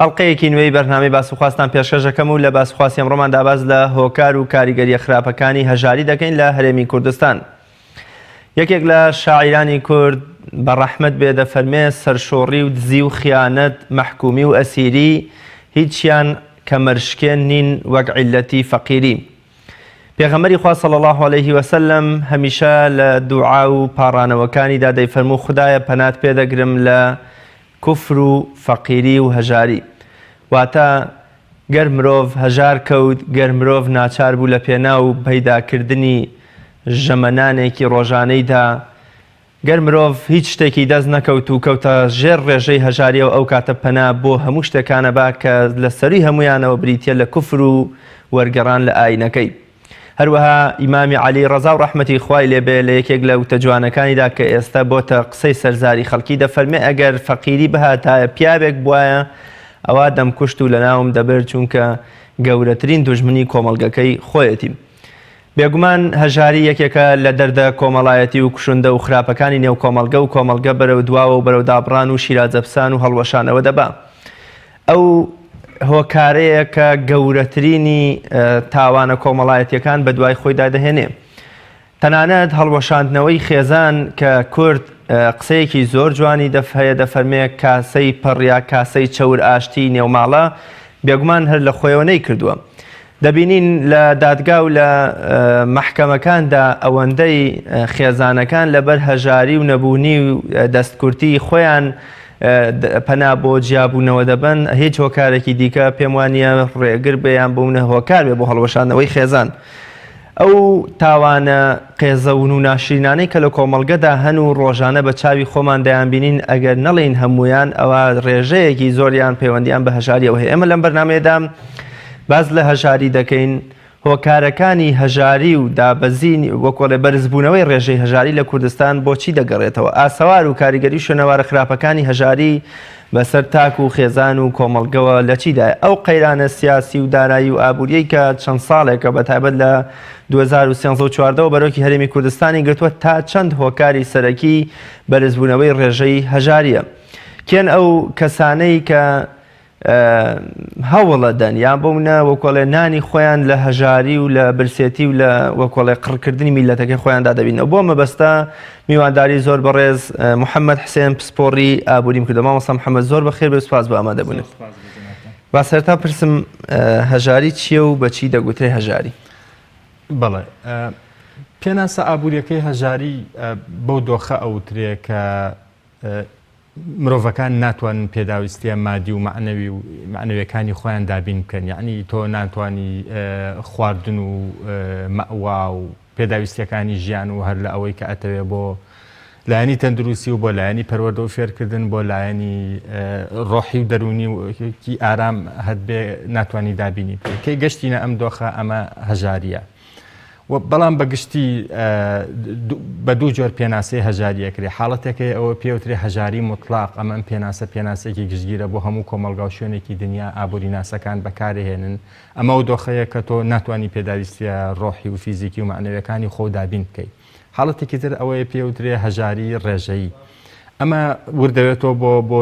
ئەڵقەیەکی نوێی بەرنامەی باسوخواستان پێشکەش دەکەم و لە باسوخواستی ئەمڕۆماندا باس لە هۆکار و کاریگەریە خراپەکانی هەژاری دەکەین لە هەرێمی کوردستان. یەکێک لە شاعیرانی کورد بە ڕەحمەت بێ دەفەرمێ سەرشۆڕی و دزی و خیانەت، مەحکومی و ئەسیری هیچیان کەمەرشکێن نین وەک عیللەتی فەقیری. پێغەمبەری خوا صلی اللە علیه وسلم هەمیشە لە دوعا و پاڕانەوەکانیدا دەیفەرموو خودایە پەنات پێدەگرم لە کفر و فەقیری و هەژاری. واتە، گەر مرۆڤ هەژار کەوت، گەر مرۆڤ ناچار بوو لە پێناو پەیدا کردنی ژەمە نانێکی ڕۆژانەیدا، گەر مرۆڤ هیچ شتێکی دەست نەکەوت و کەوتە ژێر ڕێژەی هەژاریەوە ئەو کاتە پەنا بۆ هەموو شتێکانەبا کە لە سەروی هەموویانەوە بریتیە لە کفر و وەرگەڕان لە ئاینەکەی. هەروەها ئیمامی عەلی ڕەزا و ڕەحمەتی خوای لێ بێ لە یەکێک لە وتە جوانەکانیدا کە ئێستە بۆتە قسەی سەرزاری خەڵکی دەفەرمێ ئەگەر فەقیری بهاتایە پیاوێک بوایە ئەوا دەمکوشت و لەناوم دەبرد چونکە گەورەترین دوژمنی کۆمەڵگەکەی خۆیەتی. بێگومان هەژاری یەکێکە لە دەردە کۆمەڵایەتی و کوشندە و خراپەکانی نێو کۆمەڵگە و کۆمەڵگە بەرەو دواوە و بەرەو دابڕان و شیرازەپسان و هەڵوەشانەوە دەبا. ئەو هۆکارەیە کە گەورەترینی تاوانە کۆمەڵایەتییەکان بەدوای خۆیدا دەهێنێ. تەنانەت هەڵوەشاندنەوەی خێزان کە کورد قسەیەکی زۆر جوانی دەف هەیە دەفەرمێ کاسەی پڕ یا کاسەی چەور ئاشتیی نێوماڵە بێگومان هەر لە خۆیەوە نەیکردووە. دەبینین لە دادگا و لە مەحکەمەکاندا ئەوەندەی خێزانەکان لەبەر هەژاری و نەبوونی و دەستکورتیی خۆیان پەنا بۆ جیابوونەوە دەبەن، هیچ هۆکارێکی دیکە پێم وا نییە ڕێگر بێ یان بوونە هۆکار بێ بۆ هەڵوەشاندنەوەی خێزان. ئەو تاوانە قێزەون و ناشرینانەی کە لە کۆمەڵگەدا هەن و ڕۆژانە بە چاوی خۆمان دەیانبینین، ئەگەر نەڵێین هەموویان، ئەوا ڕێژەیەکی زۆریان پەیوەندییان بە هەژارییەوە هەیە. ئێمە لەم بەرنامەیەدا باس لە هەژاری دەکەین هۆکارەکانی هەژاری و دابەزین و کۆڵێ بەرزبوونەوەی ڕێژەی هەژاری لە کوردستان بۆ چی دەگەڕێتەوە؟ ئاسەوار و کاریگەری شوێنەوارە خراپەکانی هەژاری بەسەر تاک و خێزان و کۆمەڵگەوە لە چیدایە؟ ئەو قەیرانە سیاسی و دارایی و ئابووریەی کە چەند ساڵێکە بە تایبەت لە دوو هەزار و سێزدە و چواردە وە بەرۆکی هەرێمی کوردستانی گرتووە تا چەند هۆکاری سەرەکی بەرزبوونەوەی ڕێژەی هەژاریە؟ کێن ئەو کەسانەی کە هەوڵ ئەدەن یان بەونە وەکۆڵێ نانی خۆیان لە هەژاری و لە برسێتی و لە وەکۆڵێ قڕکردنی میلەتەکەی خۆیاندا دەبینەوە بۆ مەبەستە میوانداری زۆر بەڕێز محەممەد حسێن پسپۆڕی ئابووریم کردە مامەسا محەممە زۆر بەخێر بێ سوپاس بە ئامادە بوون با سەرتا پرسم هەژاری چییە و بەچی دەگوترێ هەژاری بەڵێ پێناسە ئابوووریەکەی هەژاری بەو دۆخە ئەوترێ کە مرۆڤەکان ناتوانن پێداویستیە مادی و مەعنەوی و مەعنەویەکانی خۆیان دابین بکەن یەعنی تۆ ناتوانی خواردن و مەئوا و پێداویستیەکانی ژیان و هەر لە ئەوەی کە ئەتەوێ بۆ لایەنی تەندروستی و بۆ لایەنی پەروەردە و فێرکردن بۆ لایەنی ڕۆحی و دەرونی وکی ئارام هەت بێ ناتوانانی دابینی بکەی گەشتینە ئەم دۆخە ئەمە هەژاریە بەڵام بە گشتی بە دوو جۆر پێناسەی هەژاری ئەکرێ حاڵەتەکەی ئەوە پێوترێ هەژاری مطلاق ئەمە ئەم پێناسە پێناسێکی گشتگیرە بۆ هەموو کۆمەلگا و شوێنێکی دنیا ئابووری ناسەکان بەکارهێنن ئەمە و دۆخەیە کە تۆ ناتوانانی پێداویستیە ڕۆحی و فیزیکی و مەعنەویەکانی خۆ دابین بکەی حاڵەتێکی تر ئەوەیە پێ وترێ هەژاری ڕێژەیی. ئەمە وردەێتەوە بۆ بۆ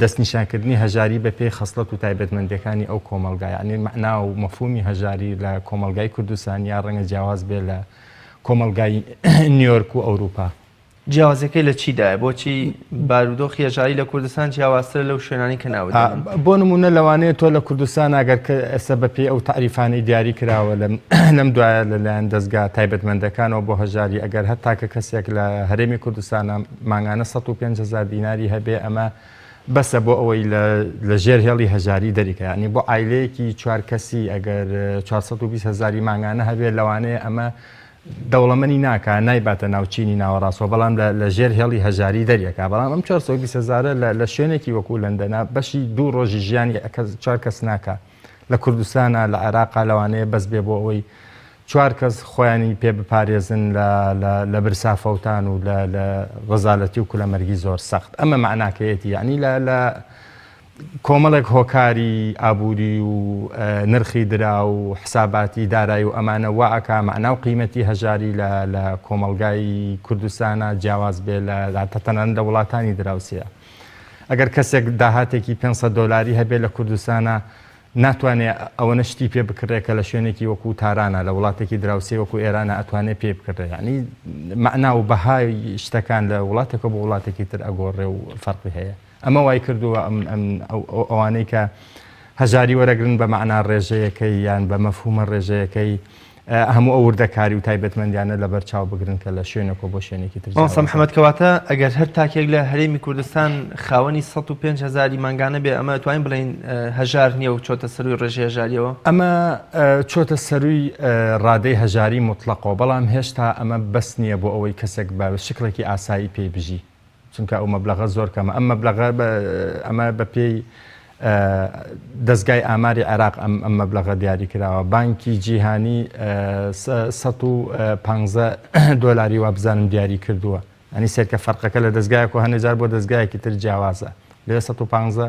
دەستنیشانکردنی هەژاری بە پێی خەسڵەت و تایبەتمەندەکانی ئەو کۆمەلگا یعنی مەعنا و مەفومی هەژاری لە کۆمەلگای کوردستان یا ڕەنگە جیاواز بێ لە کۆمەلگای نیۆرک و ئەوروپا. جیاوازیەکەی لە چیدایە بۆچی؟ بارودۆخی هەژاری لە کوردستان جیاوازترە لەو شوێنانەی کە ناوت دەبەن. بۆ نموونە لەوانەیە تۆ لە کوردستان ئەگەر کە ئێستا بە پێی ئەو تەعریفانەی دیاری کراوە لەم لەم دوایە لە لایەن دەزگا تایبەتمەندەکانەوە بۆ هەژاری ئەگەر هەر تاکە کەسێک لە هەرێمی کوردستانە مانگانە سەد و پێنج هەزار دیناری هەبێ ئەمە بەسە بۆ ئەوەی لە لە ژێر هێڵی هەژاری دەریکە یانی بۆ عایلەیەکی چوار کەسی ئەگەر چوار سەد و بیست هەزاری مانگانە هەبێ لەوانەیە ئەمە دەوڵەمەنی ناکا نایباتە ناو چینی ناوەڕاستەوە بەڵام لە ژێر هێڵی هەژاری دەریەکا بەڵام ئەم چوار سەد و بیست هەزارە لە شوێنێکی وەکوو لەندەنا بەشی دوو ڕۆژی ژیانی چوار کەس ناکا لە کوردستانا لە عێراقا لەوانەیە بەس بێ بۆ ئەوەی چوار کەس خۆیانی پێ بپارێزن لە برسا فەوتان و لە ڕەزالەتی و کولەمەرگی زۆر سەخت ئەمە مەعناکەیەتی یەعنی لە کۆمەڵێک هۆکاری ئابووری و نرخی دراو و حساباتی دارای و ئەمانە وا ئەکا مەعنا و قیمەتی هەژاری لە لە کۆمەڵگای کوردستانا جیاواز بێ لە هەتا تەنانەت لە وڵاتانی دراوسێ ئەگەر کەسێک داهاتێکی پێنج سەد دۆلاری هەبێ لە کوردستانا ناتوانێ ئەوەنە شتی پێ بکڕێ کە لە شوێنێکی وەکوو تارانا لە وڵاتێکی دراوسێ وەکوو ئێرانا ئەتوانێ پێی بکڕێ یەعنی مەعنا و بەهای شتەکان لە وڵاتێکەوە بۆ وڵاتێکی تر ئەگۆڕێ و فەرقی هەیە. ئەمە وای کردووە ئەوانەی کە هەژاری وەرەگرن بە مەعنا ڕێژەیەکەی یان بە مەفهوومە ڕێژەیەکەی هەموو ئەو وردەکاری و تایبەتمەندیانە لەبەر چاو بگرن کە لە شوێنێکەوە بۆ شوێنێکی تر مامۆستا محەمەد کەواتە ئەگەر هەر تاکێک لە هەرێمی کوردستان خاوەنی سەد و پێنج هەزاری مانگانە بێ ئەمە توانین بڵێین هەژار نییە و چۆتە سەرووی ڕێژەی هەژارییەوە ئەمە چۆتە سەرووی ڕادەی هەژاری موتڵەقەوە بەڵام هێشتا ئەمە بەس نییە بۆ ئەوەی کەسێک بە شکڵێکی ئاسایی پێی بژی چونکە ئەو مەبلەغە زۆر کەمە ئەم مەبلەغە ئەمە بە پێی دەستگای ئاماری عێراق ئەم ئەم مەبلەغە دیاری کراوە بانکی جیهانی 150 دۆلاری وابزانم دیاری کردووە ئەنی سێکە فەرقەکە لە دەستگایەک و هەنێجار بۆ دەستگایەکی تر جیاوازە لێ سەد و پانزە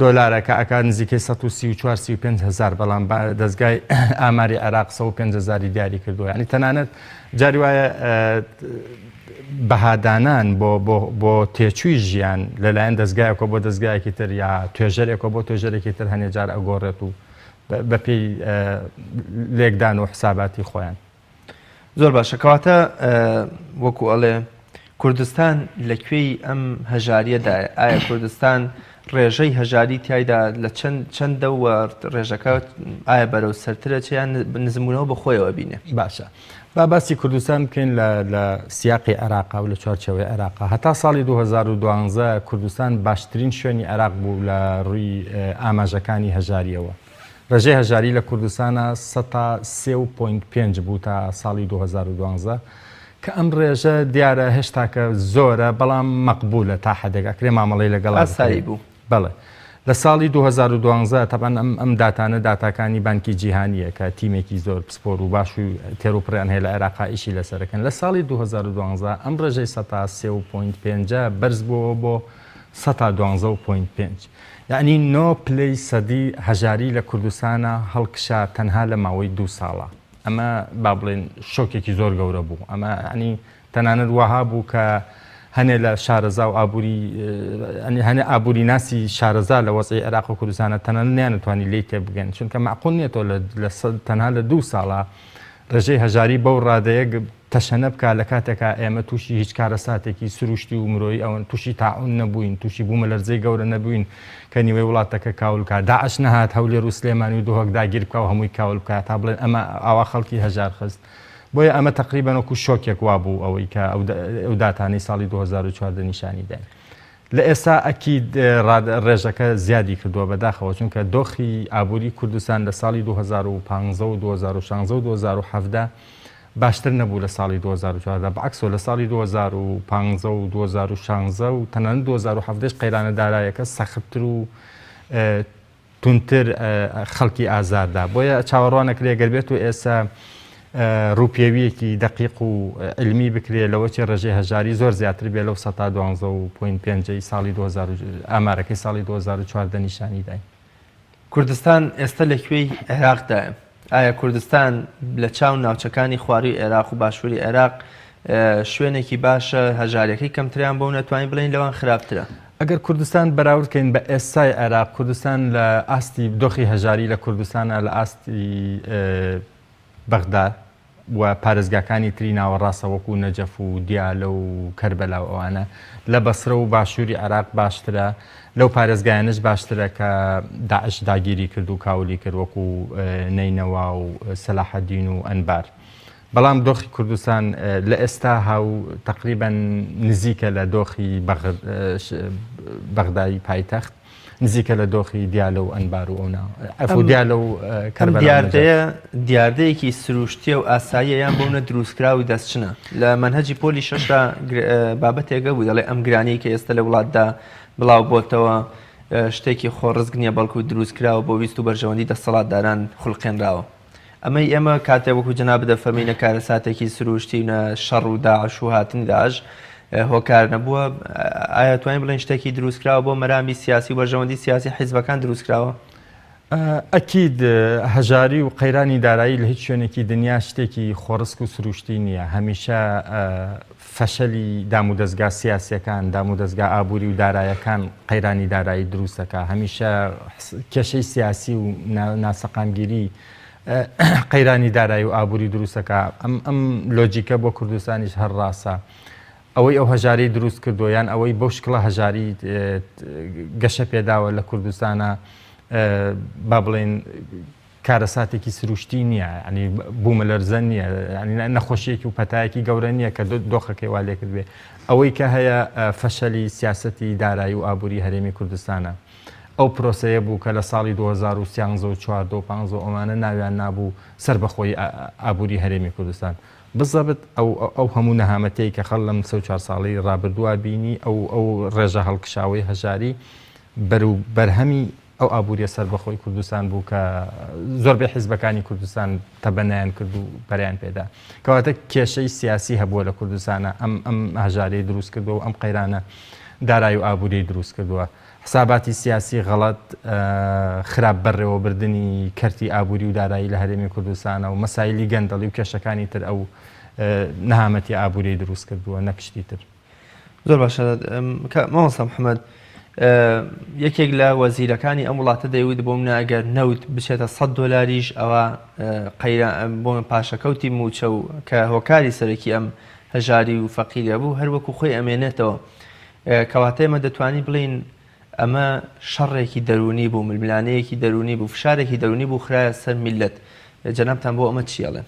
دۆلارە کە ئەکات نزیکەی سەد و سی و چوار سی و پێنج هەزار بەڵام دەزگای ئاماری عێراق سەد و پێنج هەزاری دیاری کردووە یعنی تەنانەت جاری وایە بەهادانان بۆ بۆ تێچووی ژیان لەلایەن دەستگایەکە بۆ دەستگایەکی تر یا توێژەرێکە بۆ توێژەرێکی تر هەنێجار ئەگۆڕێت و بەپی لێکدان و حساباتی خۆیان زۆر باشە کەواتە وەکو ئەڵێ کوردستان لە کوێی ئەم هەژاریەدا ئایا کوردستان ڕێژەی هەژاری تایدا لە چەند چەندە و ڕێژەکە ئایا بەرەو سەرترە چیان نزمونەوە بە خۆیەوە بینێ باشە با باسی کوردستان بکەین لە سیاقی عێراقا و لە چوارچەوەی عێراقا هەتا ساڵی 2012 کوردستان باشترین شوێنی عێراق بوو لە ڕووی ئاماژەکانی هەژاریەوە. رێژەی هەژاری لە کوردستانا سەتا سێ و پۆینت پێنج بوو تا ساڵی دوو هەزار و دوازدە کە ئەم رێژە دیارە هێشتاکە زۆرە بەڵام مەقبولە تا حەدێک ئەکرێ مامەڵەی لەگەڵا بکرێت. ئاسایی بوو. بەڵێ. لە ساڵی دوو هەزار و دوازدە تەبعەن ئەم ئەم داتانە داتاکانی بانکی جیهانییە کە تیمێکی زۆر پسپۆر و باش و تێروپڕیان هەیە لە عێراقا ئیشی لەسەر ئەکەن لە ساڵی دوو هەزار و دوازدە ئەم رێژەی سەتا سێ و پۆینت پێنجە بەرز بۆوە بۆ سەتا دوانزە و پۆینت پێنج. یەعنی نۆ پلەی سەدی هەژاری لە کوردستانا هەڵکشا تەنها لە ماوەی دوو ساڵا. ئەمە با بڵێین شۆکێکی زۆر گەورە بوو. ئەمە یەعنی تەنانەت وەها بوو کە هەنێ لە شارەزا و ئابووری یەعنی هەنێ ئابووریناسی شارەزا لە وەزعی عێراق و کوردستانا تەنانەت نەیانتوانی لێی تێبگەن. چونکە مەعقول نیە تۆ لە تەنها لە دوو ساڵا ڕێژەی هەژاری بەو ڕادەیە تەشەنە بکا لە کاتێکا ئێمە تووشی هیچ کارەساتێکی سروشتی و مرۆیی ئەوەن تووشی تاعون نەبووین تووشی بوومەلەرزەی گەورە نەبووین کە نیوەی وڵاتەکە کاول بکا داعش نەهات هەولێر و سلێمانی و دهۆک داگیر بکا و هەمووی کاول بکا تا بڵێن ئەمە ئاوا خەڵکی هەژار خست بۆیە ئەمە تەقریبەن وەکو شۆکێک وابوو ئەوەی کە ئەو داتانەی ساڵی 2014 نیشانی داین. لە ئێستا ئەکید ڕێژەکە زیادی کردووە بەداخەوە چونکە دۆخی ئابووری کوردستان لە ساڵی دوو هەزار و پازدە و دوو هەزار و شانزە و دوو هەزار و حەڤدە باشتر نەبوو لە ساڵی دوو هەزار و چواردە بەعەکسەوە لە ساڵی دوو هەزار و پازدە و دوو هەزار و شانزە و تەنانەت دوو هەزار و حەڤدەش قەیرانە دارایەکە سەختتر و توندتر خەڵکی ئازاردا بۆیە چاوەڕوانەکرێ گەر بێت و ئێستا ڕوپێویەکی دەقیق و علمی بکرێ لەوەچی ڕێژەی هەژاری زۆر زیاتر بێ لەو سەتا دوانزە و پوین پێنجەی ساڵی ئامارەکەی ساڵی 2014 نیشانی داین کوردستان ئێستا لەکوێی عێراقدایە؟ ئایا کوردستان لە چاو ناوچەکانی خوارووی عێراق و باشووری عێراق شوێنێکی باشە، هەژاریەکەی کەمتریان بۆ و نەتوانین بڵێین لەوان خراپترە؟ ئەگەر کوردستان بەراورد کەین بە ئێستای عێراق، کوردستان لە ئاستی دۆخی هەژاری لە کوردستانە لە ئاستی بەغدا، و پارێزگاکانی تری ناوەڕاستە وەکو نەجەف و دیالە و کەربەلا و ئەوانە لە بەسرە و باشووری عێراق باشترە لەو پارێزگایانەش باشترە کە داعش داگیری کرد و کاولی کرد وەکو نەینەوا و سەلاحەدین و ئەنبار بەڵام دۆخی کوردستان لە ئێستا هاو تقریبا نزیکە لە دۆخی بەغدای پایتەخت نزیکە لە دۆخی دیالە و ئەنبار و ئەونا ئەفو دیالە و کەربەلا و نەجەف. ئەم دیاردەیە دیاردەیەکی سروشتییە و ئاساییە یان بۆونە دروستکراوی دەستچنە. لە مەنهەجی پۆلی شەشدا بابەتێک هەبوو دەڵێ ئەم گرانیەی کە ئێستە لە وڵاتدا بڵاو بۆتەوە شتێکی خۆڕسک نییە بەڵکو دروستکراوە بۆ ویست و بەرژەوەندی دەستەڵاتداران خولقێنراوە. ئەمەی ئێمە کاتێ وەکو جەنابت دەفەرمی نە کارەساتێکی سروشتی و نە شەڕ و داعش و هاتنی داعش هۆکار نەبووە ئایا توانین بڵێن شتێکی دروستکراوە بۆ مەرامی سیاسی و بەرژەوەندی سیاسی حیزبەکان دروستکراوە ئەکید هەژاری و قەیرانی دارایی لە هیچ شوێنێکی دنیا شتێکی خۆڕسک و سروشتی نییە هەمیشە فەشەلی دامودەزگا سیاسیەکان، دامودەزگا ئابوری و دارایەکان قەیرانی دارایی دروست دەکات، هەمیشە کێشەی سیاسی و ناسەقامگیری قەیرانی دارایی و ئابوری دروست دەکات، ئەم ئەم لۆجیکە بۆ کوردستانیش هەر ڕاستە. ئەوەی ئەو هەژاری دروست کردووە یان ئەوەی بەو شکڵە هەژاری گەشە پێداوە لە کوردستانا با بڵێین، کارەساتێکی سروشتی نییە، یانی بوومەلەرزە نییە، یانی نەخۆشییەکی و پەتایەکی گەورە نییە کە دۆخەکەی وا لێکردبێ. ئەوەی کە هەیە فەشەلی سیاسەتی دارایی و ئابووری هەرێمی کوردستانە. ئەو پرۆسەیە بوو کە لە ساڵی دوو هەزار و سیانزە و چواردە و پانزە و ئەوانە ناویان نابوو سەربەخۆیی ئابووری هەرێمی کوردستان. بزەبت ئەو هەموو نەهامەتیەی کە خەڵ لەم سێ و چوار ساڵەی ڕابردووا بینی، ئەو ڕێژە هەڵکشاوەی هەژاری بەرو بەرهەمی، ئەو ئابووریە سەربەخۆی کوردستان بوو کە زۆربەی حیزبەکانی کوردستان تەبەنەیان کرد و پەرەیان پێدا. کەواتە کێشەی سیاسی هەبووە لە کوردستانا ئەم ئەم هەژاریەی دروست کردووە و ئەم قەیرانە دارای و ئابووریەی دروست کردووە. حساباتی سیاسی غەڵەت، خراپ بەرڕێوەبردنی کەرتی ئابووری و دارایی لە هەرێمی کوردستانا و مەسایلی گەندەڵی و کێشەکانی تر ئەو نەهامەتی ئابووریەی دروست کردووە نەک شتی تر. زۆر باشە مامۆستا محمد یەکێک لە وەزیرەکانی ئەم وڵاتە دەیوت بۆم ناگەر نەوت بچێتە 100 دلاریش ئەوە بۆ من پاشەکەوتی موچە و کە هۆکاری سەرەکی ئەم هەژاری و فەقیرە بوو هەروەکو خۆی ئەمێنێتەوە کەواتە ئمە دەتوانین بڵین ئەمە شەڕێکی دەرونی بوو ململانەیەکی دەرونی بوو فشارێکی دەرونی بوو خراە سەر میلەت جەنابان بۆ ئەمە چیڵێن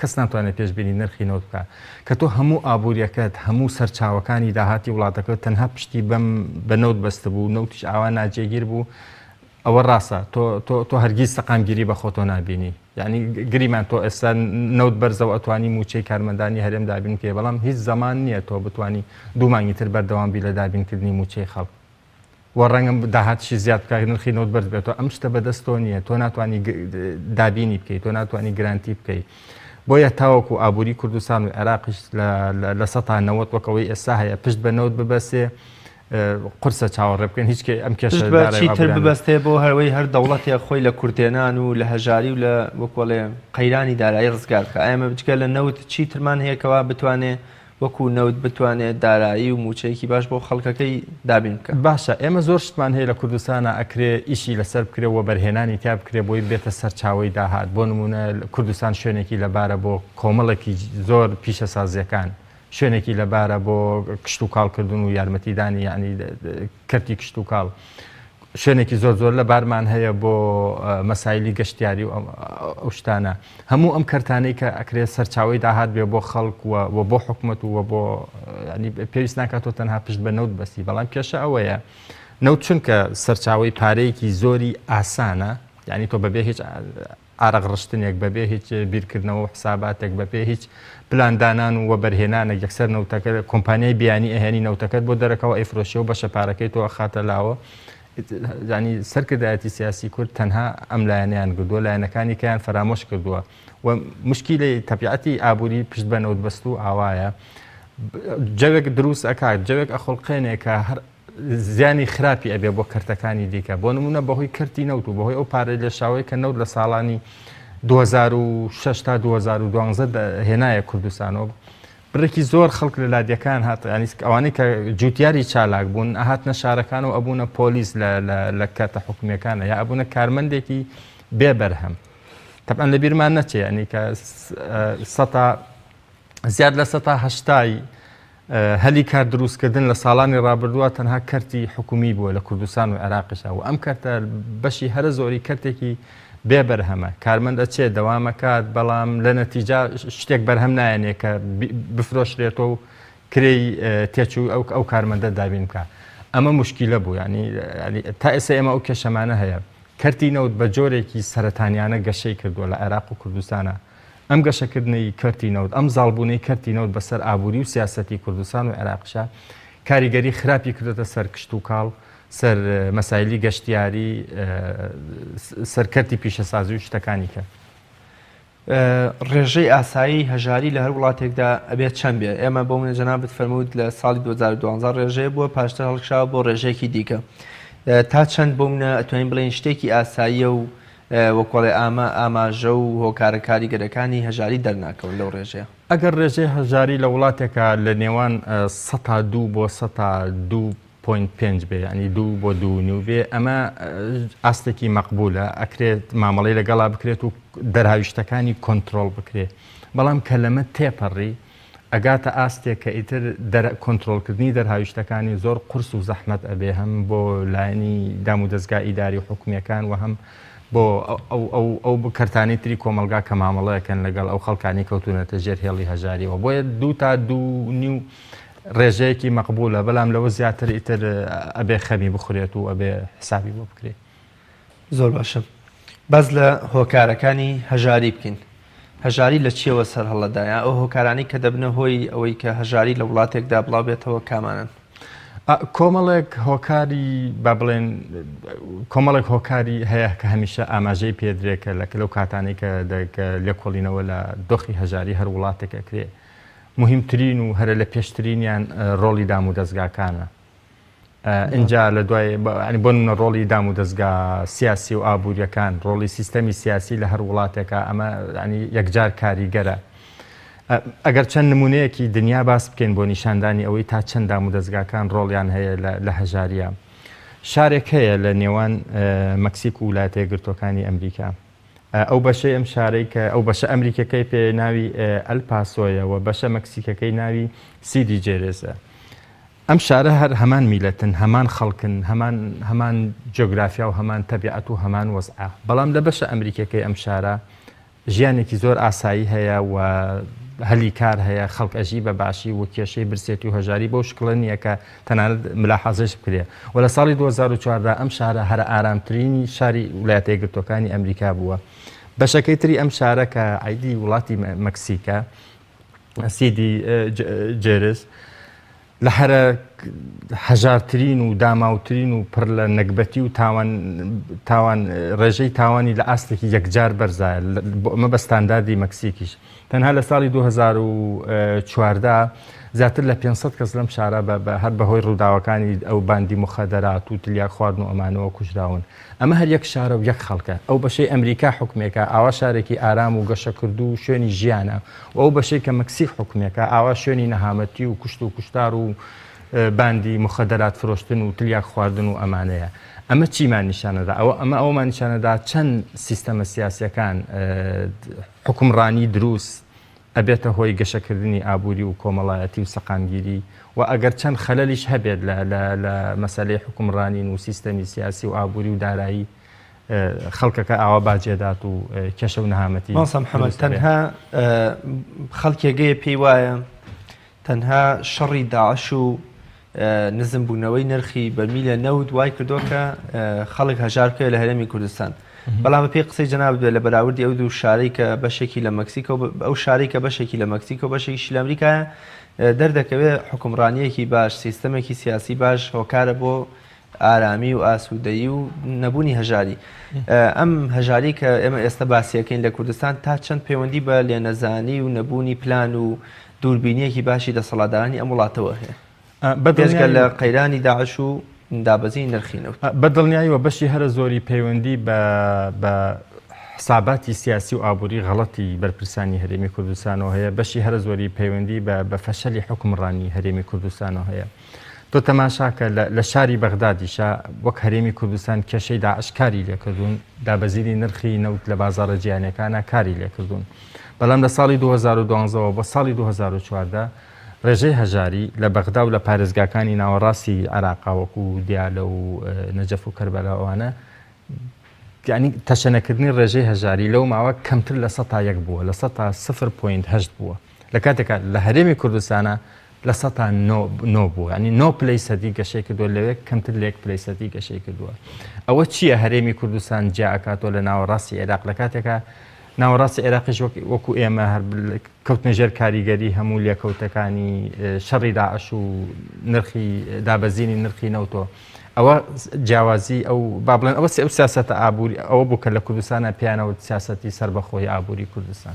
کەس ناتوانێت پێشبینی نرخی نەوت بکات کە تۆ هەموو ئابووریەکەت، هەموو سەرچاوەکانی داهاتی وڵاتەکەت تەنها پشتی بەم بە نەوت بەستبوو، نەوتیش ئاوا ناجێگیر بوو، ئەوە ڕاستە تۆ تۆ تۆ هەرگیز سەقامگیری بە خۆتۆ نابینی، یانی گریمان تۆ ئێستا نەوت بەرزە و ئەتوانی مووچەی کارمەندانی هەرێم دابین بکەی، بەڵام هیچ زەمان نییە تۆ بتوانی دوو مانگی تر بەردەوام بی لە دابینکردنی مووچەی خەڵک. وە ڕەنگە داهاتشی زیاد بکات نرخی نەوت بەرز بێتەوە ئەم شتە بەدەست تۆ نییە تۆ ناتوانانی دابینی بکەیت تۆ ناتوانانی گرانتی بکەیت بۆیە تاوەکو و ئابووری کوردستان و عێراقیش لە سەتا نەوەت وەکەوەی ئێستا هەیە پشت بە نەوت ببەسێ قرسە چاوەڕێ بکەن هیچ ئەم کێشتر ببەستێ بۆ هەروەی هەر دەوڵەتێ خۆی لە کورتێنان و لە هەژاری و لە وەکۆڵێ قەیرانی دارایی ڕزگارکە ئەمە بچکە لە نەوت چی ترمان هەیەکەوە بتوانێ وەکو نەوت بتوانێت دارایی و موچەیەکی باش بۆ خەڵکەکەی دابین بکا. باشە ئێمە زۆر شتمان هەیە لە کوردستانا ئەکرێ ئیشی لەسەر بکرێ و وەبەرهێنانی تیا بکرێ بۆی بێتە سەرچاوەی داهات بۆ نمونە کوردستان شوێنێکی لەبارە بۆ کۆمەڵێکی زۆر پیشەسازیەکان شوێنێکی لەبارە بۆ کشتوکاڵ کردن و یارمەتیدانی یانی کەرتی کشتوکاڵ شوێنێکی زۆر زۆر لە بارمان هەیە بۆ مەسایلی گەشتیاری و ئەو شتانە هەموو ئەم کەرتانەی کە ئەکرێت سەرچاوی داهات بێ بۆ خەڵک و بۆ حکومت و بۆ پێویست ناکات و تەنها پشت بە نەوت بەسی بەڵام کێشە ئەوەیە نەوت چونکە سەرچاوی پارەیەکی زۆری ئاسانە یعنی تۆ بەبێ هیچ ئارەق ڕشتنێک بە بێ هیچ بیرکردنەوە و حساباتێک بە پێ هیچ پلان دانان و وەبەر هێنانەک یەکسەر نەوتەکە کۆمپانیای بیانی ئەهێنی نەوتەکەت بۆ دەرەکەوە ئەیفرۆشێ و بەشە پارەکەی تۆ ئەخاتە لاوە زانی سەرکردایەتی سیاسی کورد تەنها ئەم لایەنیان گردووە لایەنەکانی کەیان فەرامۆش کردووە و مشکیلی تەبیعەتی ئابووری پشت بە نەوت بەست و ئاوایە جەوێک دروست ئەکات جەوێک ئەخڵقێنێکە هەر زیانی خراپی ئەبێ بۆ کەرتەکانی دیکە بۆ نمونە بەهۆی کەرتی نەوت و بەهۆی ئەو پارەی لێشاوەی کە نەوت لە ساڵانی 2006 تا 2012 هێنایە کوردستانەوە بڕێکی زۆر خەڵک لە لادیەکان هات ئەنیسک ئەوانەی کە جوتیاری چالاک بوون ئەهاتنە شارەکان و ئەبوونە پۆلیس لە کاتە حکومیەکانە یا ئەبوونە کارمەندێکی بێبەرهەم تەبان لە بیرمان نەچێ ئەنی کە سەتا زیاد لە سەتا هەشتای هەلی کار دروستکردن لە ساڵانی ڕابردووە تەنها کەرتی حکومی بووە لە کوردستان و عێراقیشا و ئەم کەرتە بەشی هەرە زۆری کەرتێکی بێ بەرهەمە کارمەند ئەچێ دەوامەکات بەڵام لە نەتیجا شتێک بەرهەم نایەنێ کە بفرۆشرێتەوە و کرێی تێچوو ئەو ئەو کارمەندە دابین بکە ئەمە مشکیلە بوو ینی تا ئێستا ئێمە ئەو کێشەمانە هەیە کەرتی نەوت بە جۆرێکی سەرەتانیانە گەشەی کردووە لە عێراق و کوردستانە ئەم گەشەکردنەی کەرتی نەوت، ئەم زاڵبوونەی کەرتی نەوت بەسەر ئابووری و سیاسەتی کوردستان و عێراقیشا، کاریگەری خراپی کردۆتە سەر کشتوکاڵ، سەر مەسایلی گەشتیاری، سەر کەرتی پیشەسازی و شتەکانی تر. ڕێژەی ئاسایی هەژاری لە هەر وڵاتێکدا ئەبێ چەند بێ؟ ئێمە بۆ نموونە جەنابت فەرمووت لە ساڵی دوو هەزار و دوازدە ڕێژەیە بووە، پاشتر هەڵکشاوە بۆ ڕێژەیەکی دیکە. تا چەند بۆ نموونە ئەتوانین بڵێین شتێکی ئاساییە و وکۆڵێ ئامە ئاماژە و هۆکارە کاریگەرەکانی هەژاری دەرناکەون لەو ڕێژەیە. ئەگەر ڕێژەی هەژاری لە وڵاتێکا لە نێوان سەتا دوو بۆ سەتا دوو پۆینت پێنج بێ یانی دوو بۆ دوو نیو بێ ئەمە ئاستێکی مەقبولە ئەکرێت مامەڵەی لەگەڵا بکرێت و دەرهاویشتەکانی کۆنترۆڵ بکرێ بەڵام کە لەمە تێپەڕی ئەگاتە ئاستێک کە ئیتر دەرئ کۆنترۆڵ کردنی دەرهاویشتەکانی زۆر قورس و زەحمەت ئەبێ هەم بۆ لایەنی دام و دەزگا ئیداری و حکومیەکان وە هەم بۆ ئەو کەرتانەی تری کۆمەڵگا کە مامەڵە ئەکەن لەگەڵ ئەو خەڵکانەی کەوتونەتە ژێر هێڵی هەژاریەوە بۆیە دوو تا دوو نیو ڕێژەیەکی مەقبولە بەلام لەوە زیاتر ئیتر ئەبێ خەمی بخورێت و ئەبێ حسابی بۆ بکرێ. زۆر باشە باس لە هۆکارەکانی هەژاری بکەین هەژاری لە چیەوە سەر هەڵەدایە ئەو هۆکارانی کە دەبنە هۆی ئەوەی کە هەژاری لە وڵاتێکدا بڵاو بێتەوە کامانن کۆمەڵێک هۆکاری با بڵێن کۆمەڵێک هۆکاری هەیە کە هەمیشە ئاماژەی پێدرێکە لە کلو کاتانی کە لە کۆڵینەوە لە دۆخی هەژاری هەر وڵاتێکەکرێ مهمترین و هەرە لە پێشترینیان ڕۆڵی دام و دەستگاکانە ئینجا لە دوای ینی بۆ نمونە ڕۆڵی دام و دەستگا سیاسی و ئابووریەکان ڕۆڵی سیستەمی سیاسی لە هەر وڵاتێکە ئەمە ینی یەکجار کاریگەرە ئەگەر چەند نمونەیەکی دنیا باس بکەین بۆ نیشاندانی ئەوەی تا چەند دام و دەستگاکان ڕۆڵیان هەیە لە هەژاریە شارێک هەیە لە نێوان مەکسیک و ویلایەتە یەکگرتووەکانی ئەمریکا ئەو بەشەی ئەم شارەی کە ئەو بەشە ئەمریکیەکەی پێ ناوی ئەل پاسۆیە و بەشە مەکسیکەکەی ناوی سیدی جێرێزە. ئەم شارە هەر هەمان میلەتن، هەمان خەڵکن، هەمان هەمان جۆگرافیا و هەمان تەبیعەت و هەمان وەزعە. بەڵام لە بەشە ئەمریکیەکەی ئەم شارە ژیانێکی زۆر ئاسایی هەیە و هەلی کار هەیە، خەڵک ئەژی بە باشی و کێشەی برسێتی و هەژاری بەو شکڵە نیە کە تەنانەت ملاحازەش بکرێت و لە ساڵی دوو هەزار و چواردە ئەم شارە هەرە ئارامترینی شاری ولایەتە یەکگرتووەکانی ئەمریکا بووە بەشەکەی تری ئەم شارە کە عیدی وڵاتی مەکسیکە سیدی جێرس لە هەرە هەژارترین و داماوترین و پڕ لە نەگبەتی و تاوان تاوان ڕێژەی تاوانی لە ئاستێکی یەکجار بەرزایە بۆ ئەمە بە ستانداردی مەکسیکیش تەنها لە ساڵی دوو هەزار و چواردە زیاتر لە پێنج سەد کەس لەم شارە بە هەر بەهۆی ڕووداوەکانی ئەو باندی مخەدەرات و تلیاک خواردن و ئەمانەوە کوژراون ئەمە هەر یەک شارە و یەک خەڵکە ئەو بەشەی ئەمریکا حکومێکە ئاوا شارێکی ئارام و گەشەکردوو و شوێنی ژیانە و ئەو بەشەی کە مەکسیک حکومێکە ئاوا شوێنی نەهامەتی و کوشت و کوشتار و باندی مخەدەرات فرۆشتن و تلیاک خواردن و ئەمانەیە ئەمە چیمان نیشانەدا ئەوە ئەمە ئەومان نیشانەدا چەند سیستەمە سیاسەکان حوکمڕانی دروست، ئەبێتە هۆی گەشەکردنی ئابووری و کۆمەڵایەتی و سەقامگیری و ئەگەر چەند خەلەلیش هەبێت لە لە لە مەسەلەی حوکمڕانین و سیستەمی سیاسی و ئابووری و دارایی خەڵکەکە ئاوا باجێدات و کێشە و نەهامەتی مامۆستا محمد تەنها خەڵکێگەیە پێی وایە تەنها شەڕی داعش و نزم بوونەوەی نرخی بەرمیلە نەوت وای کردووە کە خەڵک هەژار بکەوێت لە هەرێمی کوردستان بەڵام بەپێی قسەی جەنابت بێت لە بەراوردی ئەو دوو شارەی کە بەشێکی لە مەکسیکۆ بە- ئەو شارەی کە بەشێکی لە مەکسیکۆ بەشێکیشی لە ئەمریکایە دەردەکەوێت حوکمڕانییەکی باش سیستەمێکی سیاسی باش هۆکارە بۆ ئارامی و ئاسوودەیی و نەبوونی هەژاری. ئەم هەژاری کە ئێمە ئێستا باسیەکەین لە کوردستان تا چەند پەیوەندی بە لێنەزانی و نەبوونی پلان و دووربینیەکی باشی دەسەڵاتدارانی ئەم وڵاتەوە هەیە؟ بێجگە لە قەیرانی داعش و دابەزینی نرخی نەوت. بە دڵنیاییەوە بەشی هەرە زۆری پەیوەندی بە حساباتی سیاسی و ئابووری غەڵەتی بەرپرسانی هەرێمی کوردستانەوە هەیە، بەشی هەرە زۆری پەیوەندی بە فەشەلی حوکمڕانی هەرێمی کوردستانەوە هەیە. تۆ تەماشاکە لە شاری بەغدادیشا وەک هەرێمی کوردستان کێشەی داعش کاری لێکردوون دابەزینی نرخی نەوت لە بازارە جیانەکانە کاری لێکردوون بەڵام لە ساڵی 2012ەوە بۆ ساڵی 2014 ڕێژەی هەژاری لە بەغدا و لە پارێزگاکانی ناوەڕاستی عراقا وەکو دیالە و نەجەف و کەربەلاوانە ینی تەشەنەکردنی ڕێژەی هەژاری لەو ماوە کەمتر لە سە تا یەک بووە لە سە تا سفر پوینت هەشت بووە لە کاتێکا لە هەرێمی کوردستانا لە سەتا نۆ نۆ بووە ینی نۆ پلەی سەدی گەشەی کردووە لەوێ کەمتر لە یەک پلەی سەدی گەشەی کردووە ئەوە چییە هەرێمی کوردستان جیا ئەکاتەوە لە ناوەڕاستی عێراق لە کاتێکا ناوەڕاستی عێراقیش وەک وەکو ئێمە هەر بل- کەوتنە ژێر کاریگەری هەموو لێکەوتەکانی اه، شەڕی داعش و نرخی اه، دابەزینی نرخی نەوتۆ ئەوە س- جیاوازی ئەو با بڵێن ئەوە سی- ئەو سیاسەتە ئابووری ئەوە بوو کە لە کوردستانا پێیانەوت سیاسەتی سەربەخۆی ئابووری کوردستان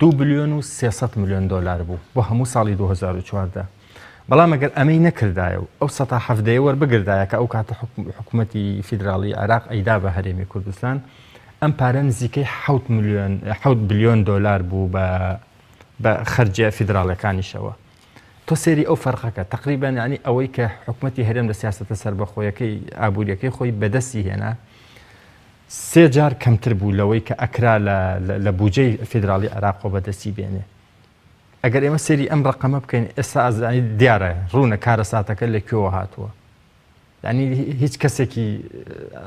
دوو بلیۆن و سێ سەد ملیۆن دۆلار بوو بۆ هەموو ساڵی دوو هەزار و چواردە، بەڵام ئەگەر ئەمەی نەکردایە و ئەو سەتا حەڤدەیە وەربگردایە کە ئەو کاتە حکومەتی فیدراڵیی عێراق ئەیدا بە هەرێمی کوردستان، ئەم پارە نزیکەی حەوت بلیۆن دۆلار بوو بە خەرجییە فیدراڵییەکانیشەوە. تۆ سەیری ئەو فەرقەکە تقریبان ینی ئەوەی کە حکوومەتتی هەرێم لە سیاستە سربەخۆیەکەی ئابوووریەکەی خۆی بەدەستی هێنا سێ جار کەمتر بوو لەوەی کە ئەکرا لە بجەی فیدراالی عراق خۆ بەدەستی بێنێ ئەگەر ئێمە سەری ئەم ڕقەمە بکەین ئێستا ئازرانی دیارە ڕوونە کارە ساتەکە لە کوێوە هاتووە ینی هیچ کەسێکی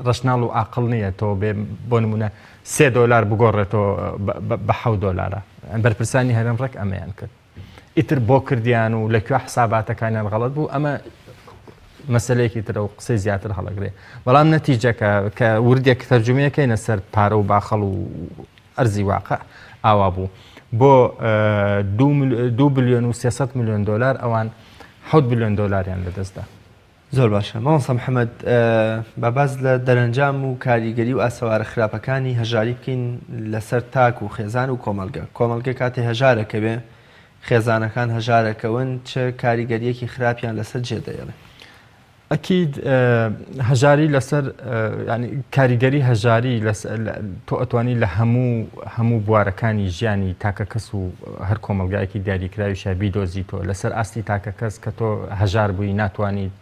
ڕشناڵ و عقل نییە تۆ بێ بۆ نمونە سێ دۆلار بگۆڕێتەوە بە حە دۆلارە بەرپرسانی هەرم ڕێک ئەمەیان کرد ئیتر بۆ کردیان و لەکوێ حساباتەکانیان غەڵەت بوو ئەمە مەسلەیەکی ترە و قسەی زیاتر هەڵەگرێ بەڵام نەتیجەکە کە وردێک تەرجمەکەینە سەر پارە و باخەڵ و ئەرزی واقع ئاوا بوو بۆ دو بلیۆن و 300 میلیۆن دلار ئەوان حوت بلیۆن دلاریان لەدەستدا زۆر باشە مامۆستا محمد با باس لە دەرەنجام و کاریگەری و ئاسەوارە خراپەکانی هەژاری بکەین لەسەر تاک و خێزان و کۆمەڵگە کۆمەڵگە کاتێ هەژارەکەوێ خێزانەکان هەژارەکەون چ کاریگەریەکی خراپیان لەسەر جێ دەێڵێ ئەکیید هەژاری لەسەر کاریگەری هەژاری تۆ ئەتوانی لە هەموو هەموو بوارەکانی ژیانی تاکە کەس و هەر کۆمەڵگایەکی دیاریکراویشە بیدۆزیتەوە لەسەر ئاستی تاکەکەس کە تۆ هەژار بووی ناتوانیت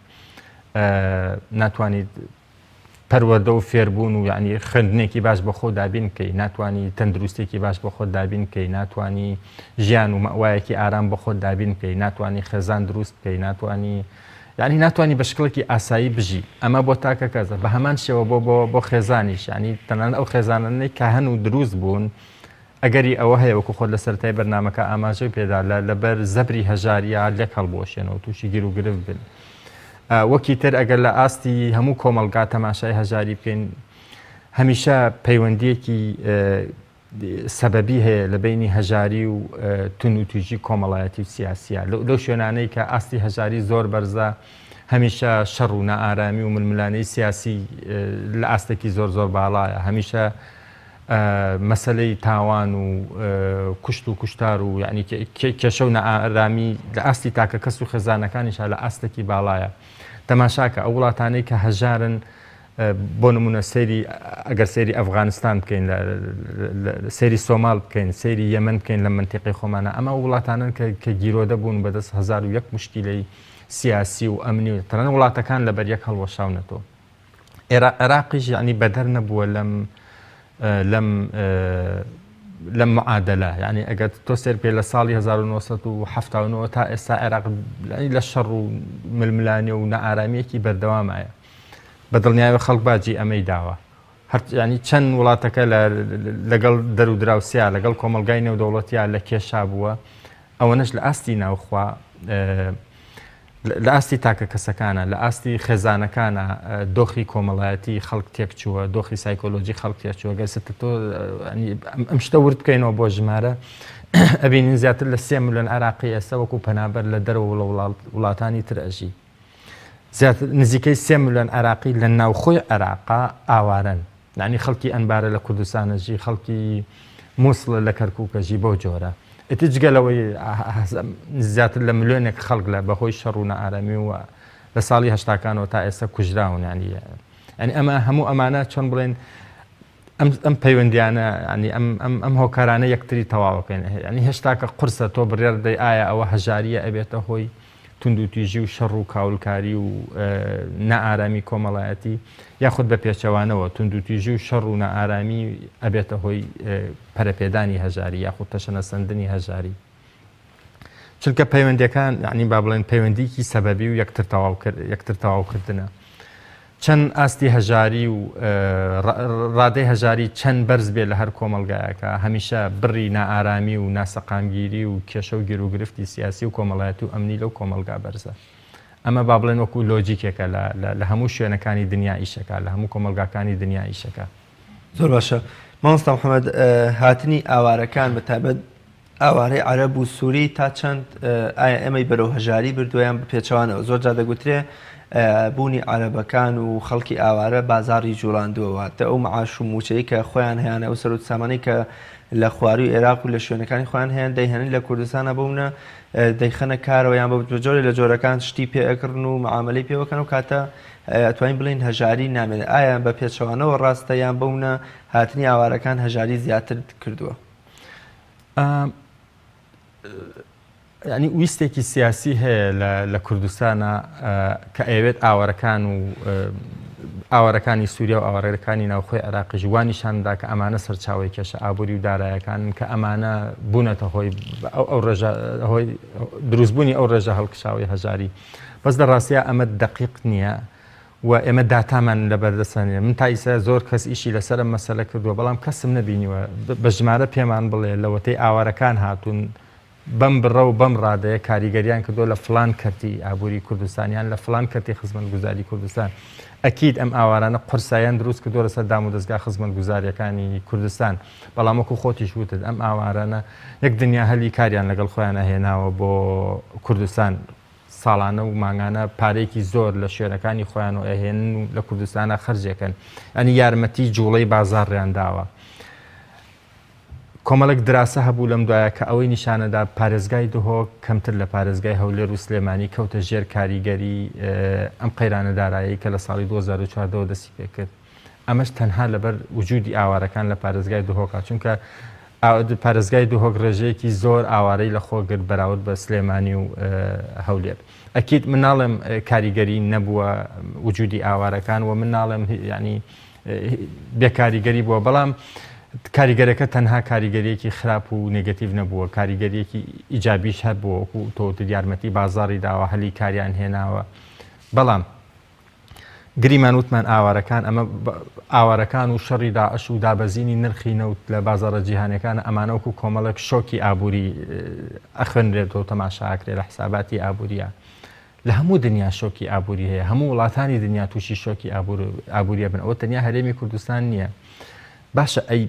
ناتوانیت پەروەەردە و فێربوون و یعنی خوێندنێکی باش بە خۆ دابین بکەی ناتوانانی تەندروستێکی باش بە خۆ دابین بکەی ناتوانانی ژیان و مەوایەکی ئارام بە خۆت دابین بکەی ناتوانانی خێزان دروست بکەی ناتوانانی یعنی ناتوانانی بە شکڵێکی ئاسایی بژی ئەمە بۆ تاکە کەزە بە هەمان شێوە بۆ بۆ بۆ خێزانیش ینی تەنان ئەو خێزانانەی کە هەن و دروست بوون ئەگەری ئەوە هەیە وەکو خۆت لە سەرەتای بەرنامەکە ئاماژەی پێدا لە لەبەر زەبری هەژار یا لەک هەڵبوەشێن و تووشی گیر و گرفت بن وەکی تر ئەگەر لە ئاستی هەموو کۆمەلگا تەماشای هەژاری بکەین هەمیشە پەیوەندیەکی سەبەبی هەیە لە بینی هەژاری و تون و توژی کۆمەڵایەتی و سیاسیە لەو شوێنانەی کە ئاستی هەژاری زۆر بەرزە هەمیشە شەڕ و نائارامی و ململانەی سیاسی لە ئاستێکی زۆر زۆر باڵایە هەمیشە مەسەلەی تاوان و کوشت و کوشتار و یعنی کێشە و نائارامی لە ئاستی تاکە کەس و خێزانەکانیشا لە ئاستێکی باڵایە تەماشاکە ئەو وڵاتانەی کە هەژارن بۆ نمونە سەیری ئەگەر سەیری ئەفغانستان بکەین سەیری سۆمال بکەین سەیری یەمن بکەین لە منتیقی خۆمانە ئەمە وڵاتانن کە گیرۆدە بوون بەدەست هزار و یەک مشکیلەی سیاسی و ئەمنی و تەنان وڵاتەکان لەبەر یەک هەڵوەشاونەتەوە عێراقیش یەعنی بەدەر نەبووە لەم لەم لەم معادلە یعنی ئەگەر تۆ سێر پێ لە ساڵی 1970 تا ئێستا عێراق لە شەڕ و ململانێ و نەئارامیەکی بەردەوامایە بە دڵنیاوە خەڵک باجی ئەمەی داوە هەرچیانی چەند وڵاتەکە لەگەڵ دەرو دراوسیا لەگەڵ کۆمەلگای نێودەوڵەتیا لە کێشا بووە ئەوەنەش لە ئاستی ناوخوا لە ئاستی تاکەکەسەکانە، لە ئاستی خێزانەکانە دۆخی کۆمەڵایەتی خەڵک تێکچووە، دۆخی سایکۆلۆجی خەڵک تێکچووە، گەر ستە تۆ ئەم شتە ورد بکەینەوە بۆ ژمارە ئەبینین زیاتر لە سێ ملیۆن عراقی ئێستا وەکو پەنابەر لە دەرەوە لە وڵاتانی تر ئەژی. نزیکەی سێ ملیۆن عراقی لە ناوخۆی عێراقا ئاوارەن. یانی خەڵکی ئەنبارە لە کوردستانەژی خەڵکی موسڵە لە کەرکووکەژی بەو جۆرە ئیتر جگە لەوەی زیاتر لە ملیۆنێک خەڵک لە بەهۆی شەڕوونە ئارامی و لە ساڵی هەشتاکانەوە تا ئێستا کوژراونانی ئەنی ئەمە هەموو ئەمانە چۆن بڵێن ئەم پەیوەندیانە ینی ئەم هۆکارانە یەکتری تەواوەکەن ینی هێشتاکە قرسە تۆ بڕێر دەی ئایا ئەوە هەژاریە ئەبێتە هۆی توندوتیژی و شەڕ و کاولکاری و نائارامی کۆمەڵایەتی یاخود بە پێچەوانەوە توندوتیژی و شەڕ و نائارامی ئەبێتە هۆی پەرەپێدانی هەژاری یاخود تەشەنەسەندنی هەژاری چونکە پەیوەندەکان عنی با بڵێن پەیوەندیکی سەبەبی و یەکتر تەواوکردنە چەند ئاستی هەژاری و ڕادەی هەژاری چەند بەرز بێت لە هەر کۆمەڵگایەکا، هەمیشە بڕی نائارامی و ناسەقامگیری و کێشە و گیروگرفتی سیاسی و کۆمەڵایەتی و ئەمنی لەو کۆمەڵگا بەرزە. ئەمە با بڵێن وەکوو لۆجیکێکە لە لە هەموو شوێنەکانی دنیا ئیش ئەکا، لە هەموو کۆمەڵگاکانی دنیا ئیش ئەکا. زۆر باشە مامۆستا محەمەد، هاتنی ئاوارەکان بە تایبەت ئاوارەی عەرەب و سوری تا چەند ئایا ئێمەی بەرەو هەژاری بردووە یان بە پێچەوانەوە؟ زۆر جار دەگوترێ بوونی عەرەبەکان و خەڵکی ئاوارە بازاڕی جووڵاندووە، واتە ئەو معاش و مووچەی کە خۆیان هەیانە، ئەو سەروت سامانەی کە لە خوارووی ئێراق و لە شوێنەکانی خۆیان هەیان دەیهێنن لە کوردستان ئەبەونە دەیخەنە کارەوە یان بە جۆرێ لە جۆرەکان شتی پێ ئەکڕن و معامەلەی پێ ئەکەن و کاتە ئەتوانین بڵێن هەژاری نامێنێ، ئایا بە پێچەوانەوە ڕاستە یان بەونە هاتنی ئاوارەکان هەژاری زیاتر کردووە؟ ینی ویستێکی سیاسی هەیە لە کوردستانە کە ئەوێت ئاوارەکان و ئاوارەکانی سووریا و ئاوارەکانی ناوخۆی عراقیش وانیشاندا کە ئەمانە سەرچاوی کێشە ئابووری و دارایەکان کە ئەمانە بوونەتە هۆی ئەو ڕێژە هۆی دروستبوونی ئەو ڕێژە هەڵکشاوی هەژاری بەس لە ڕاستە ئەمە دقیق نییە و ئێمە داتامان لەبەردەستە نیە من تا ئیستا زۆر کەس ئیشی لەسەر ئەم مەسەلە کردوە بەڵام کەسم نەبینیوە بە ژمارە پێمان بڵێ لەوەتەی ئاوارەکان هاتون بەم بڕە و بەم ڕادەیە کاریگەریان کردوە لە فڵان کەرتی ئابوری کوردستان یان لە فڵان کەرتی خزمەتگوزاری کوردستان ئەکید ئەم ئاوارانە قورساییان دروست کردوە لەسەر دام و دەزگا خزمەتگوزاریەکانی کوردستان بەڵام وەکو خۆتیش وتت ئەم ئاوارانە یەک دنیا هەلی کاریان لەگەڵ خۆیان ئەهێناوە بۆ کوردستان ساڵانە و مانگانە پارەیەکی زۆر لە شوێنەکانی خۆیانەوە ئەهێنن و لە کوردستانە خرجێکن ئەنی یارمەتی جوڵەی بازاڕیان داوە کۆمەڵک دراسە هەبوو لەم دوایە کە ئەوەی نیشانەدا پارێزگای دهۆک کەمتر لە پارێزگای هەولێر و سلێمانی کەوتە ژێر کاریگەری ئەم قەیرانە دارایی کە لە ساڵی 2014 دەسی پێکرد ئەمەش تەنها لەبەر وجودی ئاوارەکان لە پارێزگای دهۆکە، چونکە پارێزگای دهۆک ڕێژەیەکی زۆر ئاوارەی لە خۆ گرت بەراورد بە سلێمانی و هەولێر. ئەکید من ناڵێم کاریگەری نەبووە وجودی ئاوارەکان و من ناڵێم یعنی بێ کاریگەری بووە، بەڵام کاریگەرەکە تەنها کاریگەریەکی خراپ و نێگەتیڤ نەبووە، کاریگەریەکی ئیجابیش هەبووە وەکو تۆ وتت یارمەتی بازاڕی داوە، هەلی کاریان هێناوە، بەڵام گریمان وتمان ئاوارەکان ئەمە ئاوارەکان و شەڕی داعش و دابەزینی نرخی نەوت لە بازارە جیهانەکان ئەمانەوەکو کۆمەڵێک شۆکی ئابووری ئەخوێنرێت و تەماشاکرێت لە حساباتی ئابووریە لە هەموو دنیا شۆکی ئابووری هەیە هەموو وڵاتانی دنیا تووشی شۆکی ئابووریە بن ئەوە تەنیا هەرێمی کوردستان نییە باشە ئەی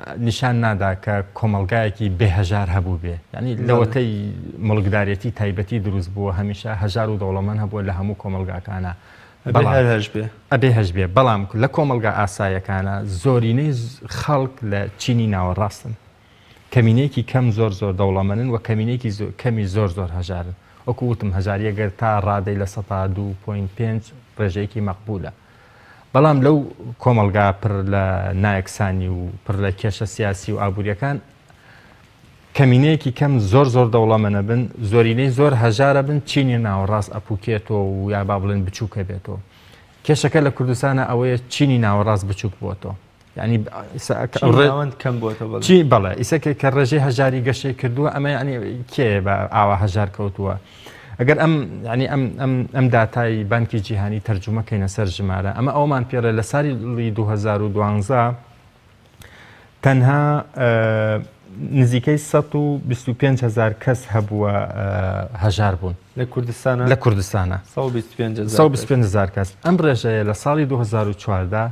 نیشان نادا کە کۆمەڵگایەکی بێ هەژار هەبووبێ یانی لەوەتەی موڵکدارێتی تایبەتی دروست بووە هەمیشە هەژار و دەوڵەمەند هەبووە لە هەموو کۆمەڵگاکانا ئەبێ هەر هەشبێ ئەبێ هەشبێ بەڵام لە کۆمەڵگا ئاسایەکانا زۆرینەی خەڵک لە چینی ناوەڕاستن کەمینەیەکی کەم زۆر زۆر دەوڵەمەنن و کەمینەیەکی زۆ کەمی زۆر زۆر هەژارن وەکو وتم هەژاریە گەر تا ڕادەی لە سەتا دوو پۆینت پێنج ڕێژەیەکی مەقبولە بەڵام لەو کۆمەڵگا پڕ لە نایەکسانی و پڕ لە کێشە سیاسی و ئابووریەکان کەمینەیەکی کەم زۆر زۆر دەوڵەمەنە بن زۆرینەی زۆر هەژارە بن چینی ناوەڕاست ئەپوکێتەوە و یا با بڵێن بچووکە بێتەوە کێشەکە لە کوردستانە ئەوەیە چینی ناوەڕاست بچووک بۆتەوە یعنی ڕێوەند کەم بۆتەوە چی بەڵێ ئیسەکە کە ڕێژەی هەژاری گەشەی کردووە ئەمە ینی کێ بە ئاوا هەژار کەوتووە ئەگەر ئەم ینی ئەم ئەم ئەم دااتایی بانکی جیهانی تەرجومەکەینە سەر ژمارە ئەمە ئەومان پێڵێ لە ساری لی 2012 تەنها نزیکەی 125 هزار کەس هەبووە هەژار بوون لە کوردستانە لە کوردستانە 25 هزار کەس ئەم ڕێژەیە لە ساڵی 2014